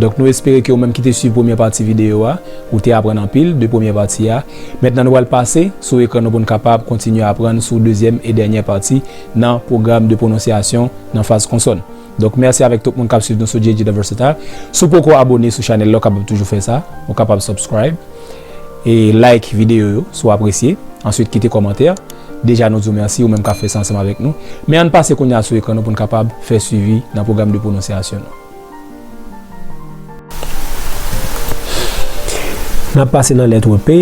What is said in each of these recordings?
Donk nou espere ke ou menm ki te swiv premyè pati videyo a, ou te aprann anpil de premyè pati a. Mentnan nou pral pase sou ekran nou pou n kapab kontinye aprann sou dezyèm e dènyè pati nan pwogram de pwononsyasyon nan faz konsòn. Donk mèsi avèk tout moun k ap swiv nou sou JJ The Versatile. Si w poko abone sou chanèl la, ou kapab toujou fè sa. Ou kapab subscribe e like videyo yo si w apresye. Answit kite kòmantè. Deja nou di w mèsi ou menm k ap fè sa ansanm avèk nou. Men an n pase kounye a sou ekran nou pou n kapab fè swivi nan pwogram de pwononsyasyon nou. N ap pase nan lèt P.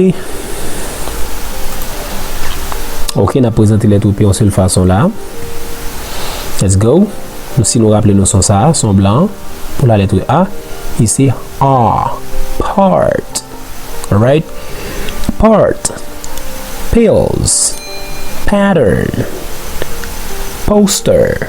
Ok, n ap prezante lèt P yon sèl fason la. Let's go. Si nou raple nou son sa, son blan an, pou la lèt A, li se A. Part. Alright? Part. Pills. Pattern. Poster.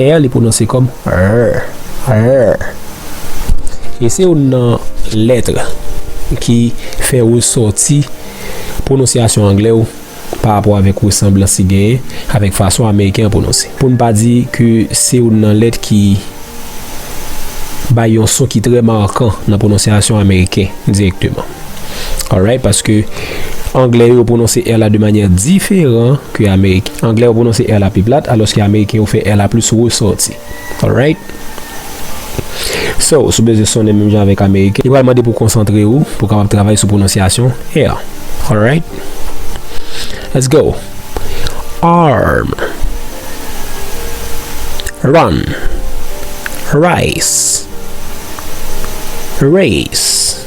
Air li pwononse kòm rr, rr. E se youn nan lètre ki fè ou sòti pwononsyasyon anglè ou pa rapò avèk resanblans li genyen avèk fason ameriken an pwononse. Pou n pa di ke se youn nan lèt ki bay yon son ki trè markan nan pwononsyasyon ameriken dirèkteman. Alright paske anglè yo prononse R la de manyè diferan ke ameriken. Anglè yo prononse R la pi plat alòske ameriken yo fè R la plis resòti. Alright. So, sou bezwen sonnen menm jan avèk ameriken, li pral mande pou konsantre ou pou kapab travay sou pwononsyasyon R. Alright. Let's go. Arm. Run. Rice. Race.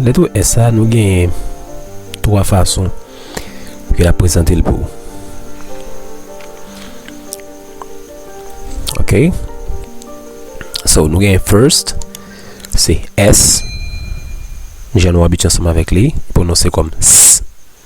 Letre S sa nou genyen 3 fason ke l ap prezante l pou ou. Ok. So nou genyen first, se S, jan nou abitye ansanm avèk li, pwononse kòm S.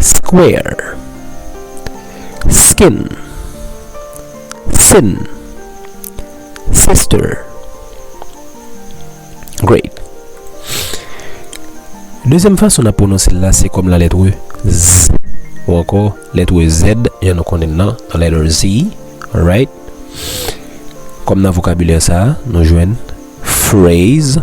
Square Skin Sin Sister Great Dezyèm fason n ap pwononse l la se kòm la lèt z ou ankò lèt z jan nou konnen l nan la lèt z Alright Kòm nan vokabilè sa a nou jwenn Phrase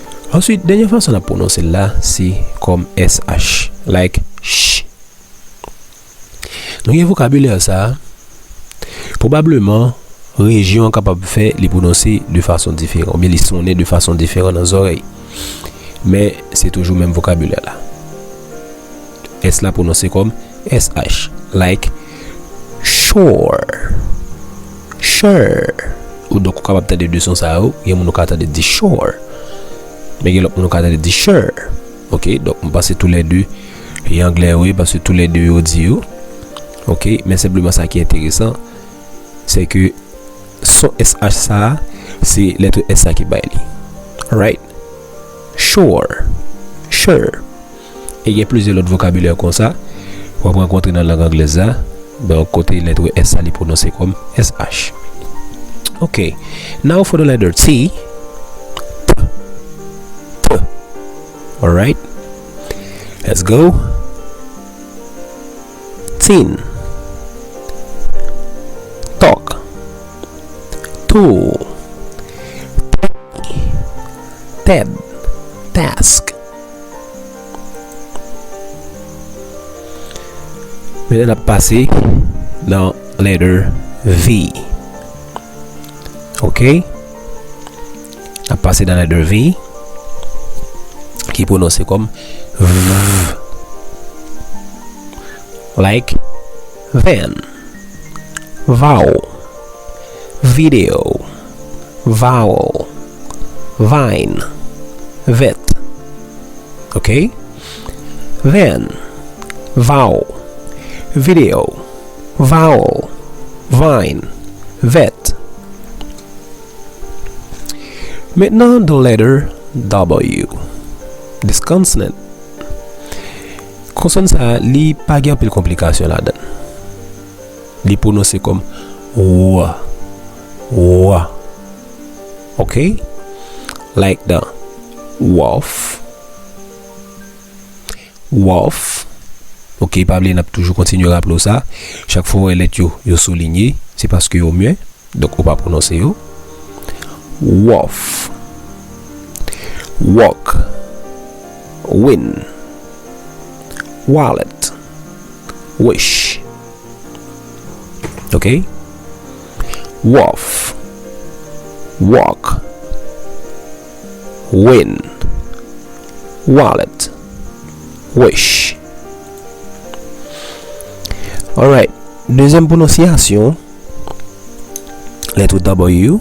Answit, dènye fason n ap pwononse l la se kòm sh, like ch. Nou gen vokabilè sa a, pwobableman rejyon an kapab fè li pwononse de fason diferan oubyen li sonnen de fason diferan nan zòrèy. Men, se toujou menm vokabilè la. S la pwononse kòm sh, like shore. Sure Ou donk ou kapab tande 2 son sa yo, gen moun ou ka tande di sure men gen lòt moun ou ka tande di sure ok donk m panse tou lè 2 yo anglè wi paske tou lè 2 yo di yo ok men senpleman sa ki enteresan se ke son sh sa a se letre s la ki bay li alright sure sure. E gen plizyè lòt vokabilè konsa w ap rankontre nan lang anglèz la, donk kote lèt s la li pwononse kòm sh. Ok, now for the letter T, t, t, alright, let's go, tin, talk, tool, tiny, ted, task. Men lè nap pase nan letter V. Ok. Nap pase nan letter V. Ki pwononse kom V. Like van. Vaw. Video. vowel vine vet ok then vowel video vowel vine vet Maintenant the letter w this consonant konsòn sa li pa gen anpil konplikasyon ladan l li pwononse kòm w w ok like the waf waf ok pa bliye nap toujou kontinye raple w sa chak fwa w wè lèt yo yo soulinye se paske yo mye donk ou pa pwononse yo waf wòk win walèt wish ok Wòf Wòk Win Walèt Wich Alright Dezyèm pwononsyasyon Lèt W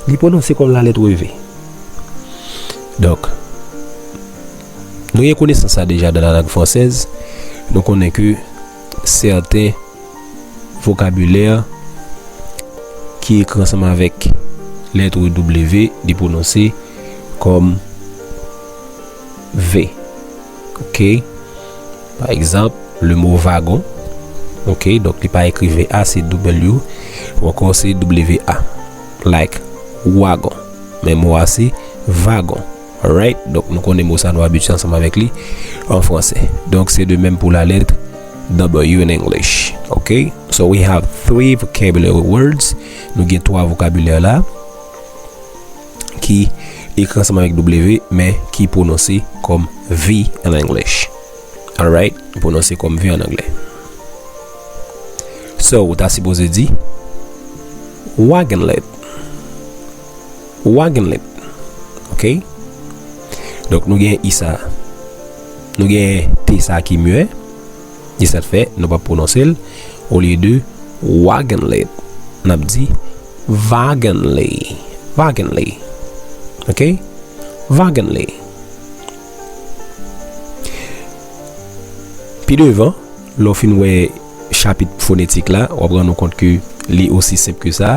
Li pwononse kòm la lèt W Donk Nou gen konesans sa deja nan la lang fransèz Nou konnen ke sèten vokabilè ki ekri ansanm avèk lèt w li pwononse kòm v. Ok. Pa egzanp, lemo vagon. Ok. Donk li pa ekri ve a, se doubèl yo. Ou ankò se double ve a. Like, wagon. Men mo a se vagon. Alright, donk nou konnen mo sa nou abitye ansanm avèk li an franse. Donk se de menm pou la lèt W in English. Ok, so we have three vocabulary words. Nou gen 3 vokabilè la ki ekri ansanm avèk W men ki pwononse kòm V in English. Alright, pwononse kòm V an anglè. So, ou ta sipoze di, Wagon lid. Wa gen lèt. Ok. Donk nou gen i sa. Nou gen t sa ki mye. E sa te fè nou pa pwononse l. O lye de wa gen lèt. N ap di va gen lè. Va gen lè. Ok. Va gen lè. Pi devan, lò fin wè chapit fonetik la, w ap rann nou kont ke li osi senp ke sa.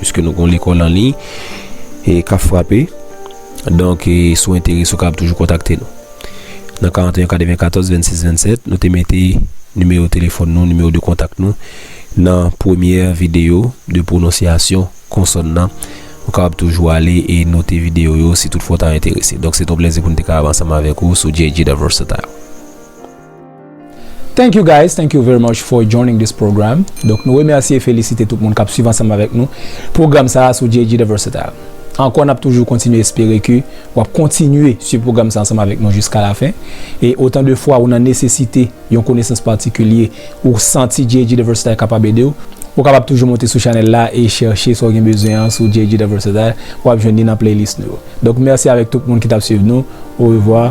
Piske nou gon lekòl an liy e kap frape. Donk e sou enteres ou kab toujou kontakte nou. Nan 41 94 26 27 nou te mete nimewo telefòn nou, nimewo de kontak nou nan premyè videyo de pwononsyasyon konsòn nan. Ou kab toujou ale e note videyo yo si tout fwa ou ta enterese. Donk se ton plezi pou nou te kab ansanm avèk ou sou JJ The Versatile. Thank you guys thank you very much for joining this program donk nou remèsye e felisite tout moun kap swiv ansanm avèk nou program sa a sou JG The Versatile ankò nap toujou kontinye espere ke wap kontinye swiv program sa ansanm avèk nou jiska la fen e otan de fwa ou nan nesesite yon konesans patikilye ou santi JG The Versatile kapab edew ou kapab toujou monte sou chanèl la e chèche sa ou gen bezwen an sou JG The Versatile wap jwenn li nan playlist nou yo donk mèsi avèk tout moun ki tap swiv nou orevwa.